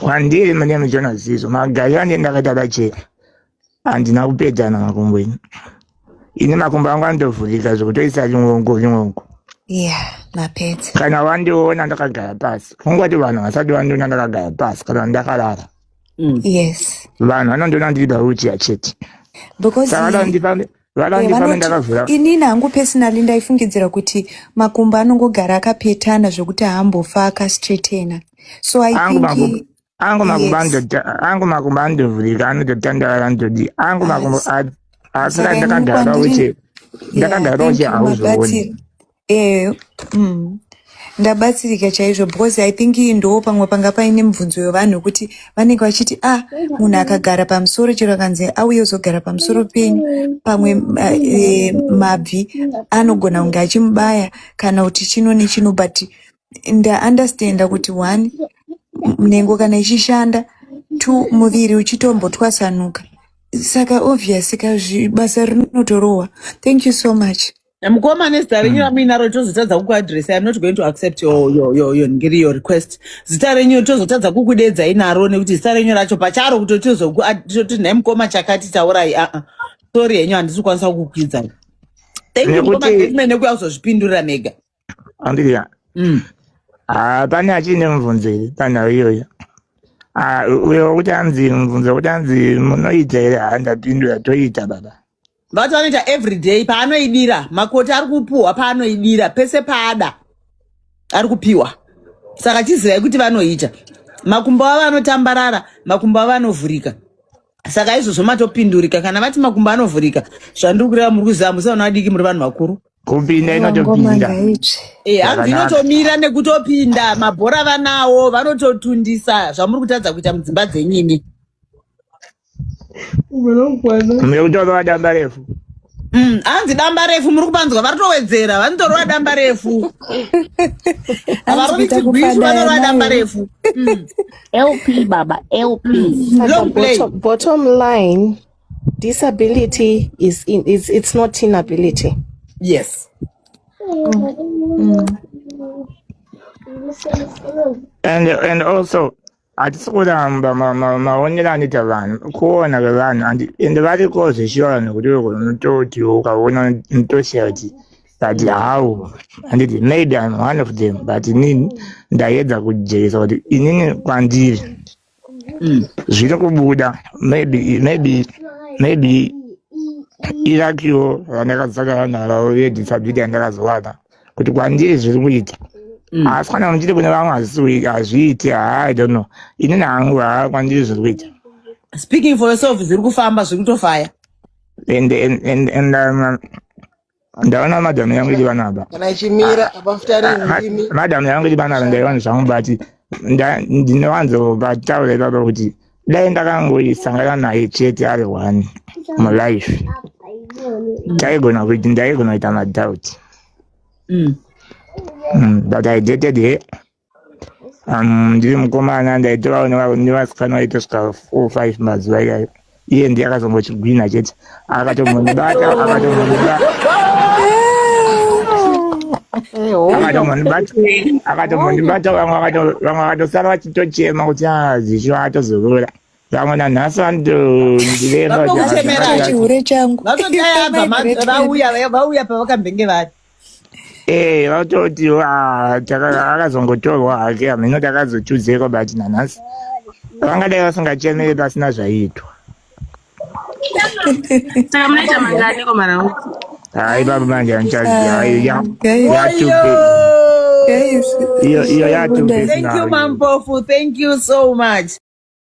Kwandiri my name is Jonas Zizo. Magayo ane ndakaita bacheka. Andina kupedzana makumbo ini. Ini makumbo angu andovhurika zvekutoisa ringongo ringongo. Yeah, mapedza. Kana wandiona ndakagara pasi. Kungoti vanhu vasati vandiona ndakagara pasi kana ndakarara. Mm. Yes. Vanhu vanondiona ndiri bauchi yachete. Because Saka vanondipa inini hangu personally ndaifungidzira kuti makumbo anongogara akapetana zvekuti haambofa akastraightena so i think angu makumbo angu makumbo andovhurika anototandavara ndodi angu makumbo asi ndakagara uche ndakagara uche hauzooni Eh, mm, ndabatsirika chaizvo because I think iyi ndoo pamwe panga paine mibvunzo yevanhu wekuti vanenge vachiti ah munhu akagara pamusoro chero akanzi auye uzogara pamusoro penyu pamwe ma- eh, mabvi anogona kunge achimubaya kana kuti chino nechino but ndaunderstanda kuti one m- nhengo kana ichishanda two muviri uchitombotwasanuka saka obvious ka zvi- basa rinotorohwa thank you so much mukoma nezita renyu ramuinaro tozotadza kukuadressai i'm not going to accept your, your, your, your, ngiri your request zita renyu tozotadza kukudeedzai naro nekuti zita renyu racho pacharo kuti tozoti nhai mukoma chakati taurai aa ah, ah. sorry henyu handisi kukwanisa kukukwidza thank you mukoma mene kuya kuzozvipindurira mega andiya mm. ah, pane achiine mubvunzo here panhau iyoyo uyo wekuti anzi mubvunzo wekuti anzi munoita here handapindura toita baba vati vanoita everyday paanoidira makoti ari kupuhwa paanoidira pese paada ari kupiwa saka chizivai kuti vanoita makumbo avo anotambarara makumbo avo anovhurika saka izvozvo matopindurika kana vati makumbo anovhurika zvandiri kureva muri kuziva musaona vadiki muri vanhu vakuru kupinda inotopinda Eh, hanzi Zvakanaka. inotomira nekutopinda mabhora vanawo vanototundisa zvamuri kutadza kuita mudzimba dzenyini Mune kutorova damba refu. Mm, hanzi damba refu muri kupanzwa vari towedzera vanotorova damba refu havarovitigwisu vanorova damba refu mm. lp baba lp mm. bottom, bottom line disability is in, it's, it's not inability yes mm. Mm. and and also hatisi kuramba maonero anoita vanhu kuona kwevanhu and ende variko zveshiora nekuti unototi ukaona unotoshaya kuti but how handiti maybe im one of them but inini ndayedza kujeresa kuti inini kwandiri mm. zviri kubuda maybe maybe maybe irakiwo randakazakara naro yedisability yandakazowana kuti kwandiri zviri kuita mm. asi kana unochiti kune vamwe hazviiti haa i don't know ini nangu haa kwandiri zviri kuita speaking for yourself zviri kufamba zviri kutofaya and and and and um, ndaona madam yangu iri vana aba kana ichimira ah, abafuta ah, rimi madam yangu iri vana aba ndaiwana zvangu but ndinowanzo vataura ipapa kuti dai ndakangoisangana naye chete ari one mulife taigona kuti ndaigona kuita madoubt mm. mm, but i dated her um, ndiri mukomana ndaitovaoneka kuti ndivasikana vaitosvika four five mazuva iyayo iye ndiye akazongochigwina chete akatombondibata akatombondibata akatombondibata vamwe akatosara vachitochema kuti hazvisho ah, atozorora vamwe nanhasi vanondireva chihure changu vauya pavakambenge vari Eh, vatoti ah, akazongotorwa hake hameno takazochuzeko but nanhasi vangadai vasingachemere pasina zvaiitwa saka munoita mangani komarau hayi baba manje andichaziaiyo yatubesnamampofu thank you so much